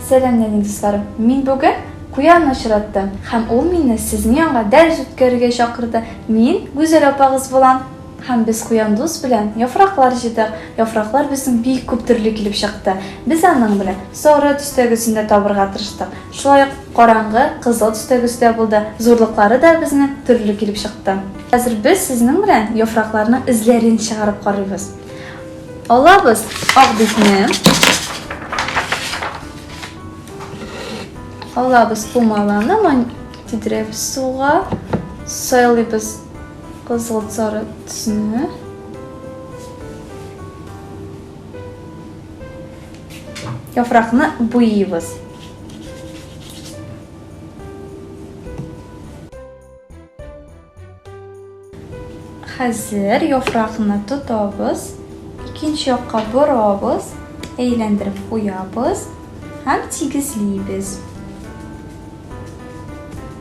Сәлам нәни дусларым! Мин бүген Куянны очраттым һәм ул мине сезнең янга дәрес үткәрергә чакырды. Мин Гүзәл апагыз булам һәм без Куян дус белән яфраклар җыйдык. Яфраклар безнең бик күп төрле килеп чыкты. Без аның белән сары төстәгесен дә табырга тырыштык. Шулай ук караңгы, кызыл төстәгесе дә булды. Зурлыклары да безнең төрле килеп чыкты. Хәзер без сезнең белән яфракларның эзләрен чыгарып карыйбыз. Алабыз ак битне. Алабыз пумаланы, ман тидереп суга. Сайлыйбыз кызыл сары төсне. Яфракны буйыбыз. Хәзер яфракны тотабыз, икенче якка борабыз, әйләндереп куябыз һәм тигезлибез.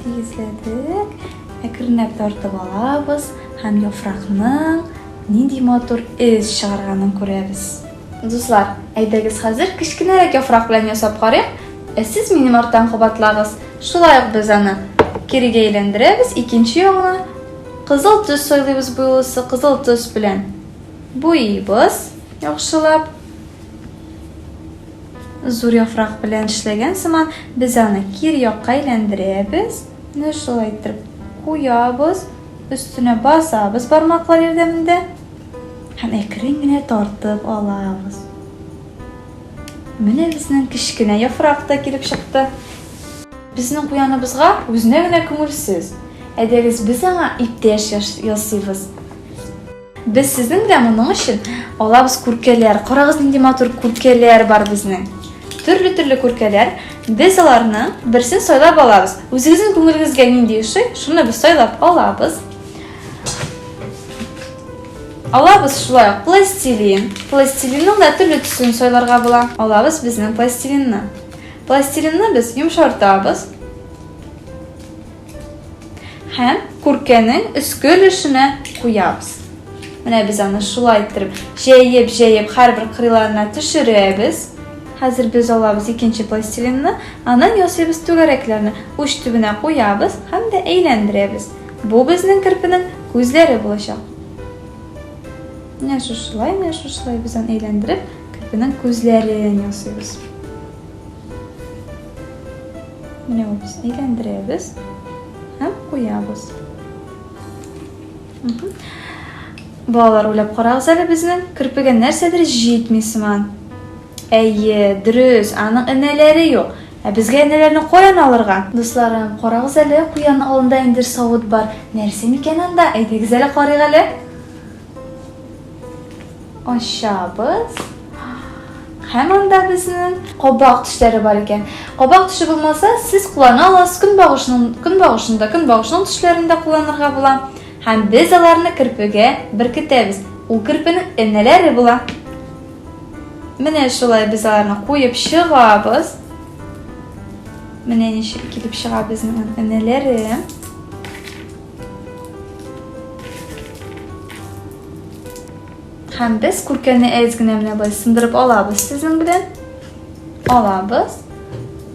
Тигезләдек. Әкренләп тартып алабыз һәм яфракның нинди матур эз чыгарганын күрәбез. Дуслар, әйдәгез хәзер кечкенәрәк яфрак белән ясап карыйк. Ә сез минем арттан кабатлагыз. Шулай ук без аны кирегә әйләндерәбез, икенче ягына кызыл төс сайлыйбыз буйлысы кызыл төс белән. Буйыйбыз яхшылап. Зур яфрак белән эшләгән сыман без аны кир якка әйләндерәбез. Менә шулай итеп куябыз, өстенә басабыз бармаклар ярдәмендә. Һәм әкрен генә тартып алабыз. Менә безнең кечкенә яфрак та килеп чыкты. Безнең куяныбызга үзенә генә күңелсез. Әйдәгез, без аңа иптәш ясыйбыз. Без сезнең белән моның өчен алабыз күркәләр. Карагыз, нинди матур күркәләр бар безнең. Төрле-төрле күркәләр. Без аларны берсен сайлап алабыз. Үзегезнең күңелегезгә нинди ошый, шуны без сайлап алабыз. Алабыз шулай ук пластилин. Пластилинның да төрле төсен сайларга була. Алабыз безнең пластилинны. Пластилинны без йомшартабыз. Һәм күркәнең өске өлешенә куябыз. Менә без аны шулай иттереп, җәеп-җәеп һәрбер кырыйларына төшерәбез. Хәзер без алабыз икенче пластилинны, аннан ясыйбыз түгәрәкләрне, уч төбенә куябыз һәм дә әйләндерәбез. Бу безнең керпенең күзләре булачак. Менә шушылай, менә шушылай без аны әйләндереп, керпенең күзләрен ясыйбыз. Менә ул без әйләндерәбез һәм куябыз. Балалар, уйлап карагыз әле безнең керпегә нәрсәдер җитми сыман. Әйе, дөрес, аның энәләре юк. Ә безгә энеләрне каян алырга? Дусларым, карагыз әле, куян алында ниндидер савыт бар. Нәрсә микән анда? Әйдәгез әле карыйк әле. Ачабыз. Һәм анда безнең кабак төшләре бар икән. Кабак төше булмаса, сез куллана аласыз көнбагышның көнбагышны да, көнбагышның төшләрен дә кулланырга була. Һәм без аларны керпегә беркетәбез. Ул керпенең энеләре була. Менә шулай без аларны куеп чыгабыз. Менә ничек килеп чыга безнең энеләре. Һәм без күркәне әз генә менә болай сындырып алабыз сезнең белән. Алабыз.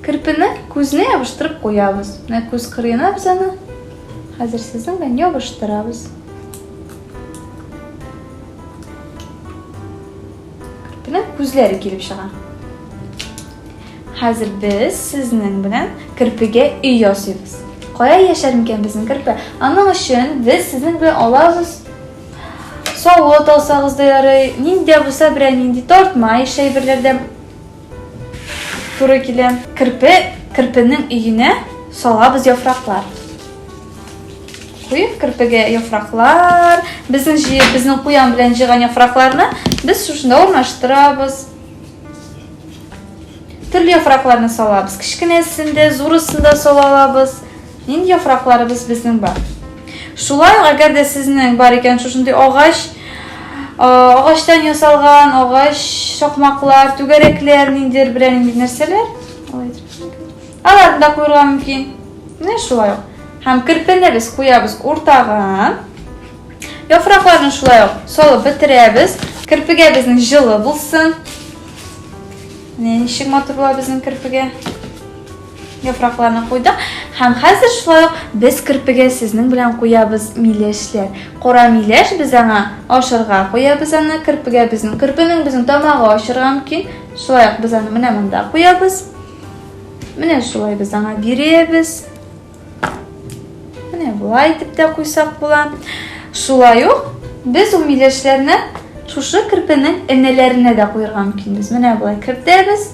Кирпене күзенә ябыштырып куябыз. Менә күз кырыена без аны хәзер сезнең белән ябыштырабыз. Белән күзләре килеп чыга. Хәзер без сезнең белән керпегә өй ясыйбыз. Кая яшәр микән безнең керпе? Аның өчен без сезнең белән алабыз савыт алсагыз да ярый, нинди булса берәр нинди тартма, еш әйберләрдән Туры килә. Керпе, керпенең өенә салабыз яфраклар. Куеп керпегә яфраклар. Безнең җыеп, безнең куян белән җыган яфракларны без шушында урнаштырабыз. Төрле яфракларны салабыз. Кечкенәсен дә, зурысын да сала алабыз. Нинди яфракларыбыз безнең бар? Шулай ук, әгәр дә сезнең бар икән шушындый агач, агачтан ясалган агач сокмаклар, түгәрәкләр, ниндидер берәр нинди нәрсәләр, аларны да куярга мөмкин. Менә шулай ук. Һәм кирпене без куябыз уртага. Яфракларны шулай ук салып бетерәбез. Кирпегә безнең җылы булсын. Менә ничек матур була безнең кирпегә. Яфракларны куйдык һәм хәзер шулай ук без керпеге сезнең белән куябыз миләшләр. Кора миләш без аңа ашырга куябыз аны, керпегә безнең керпенең безнең тамагы ашырга мөмкин. Шулай ук без аны менә монда куябыз. Менә шулай без аңа бирәбез. Менә болай итеп тә куйсак була. Шулай ук без ул миләшләрне шушы керпенең энәләренә дә куярга мөмкинбез. Менә болай кертәбез.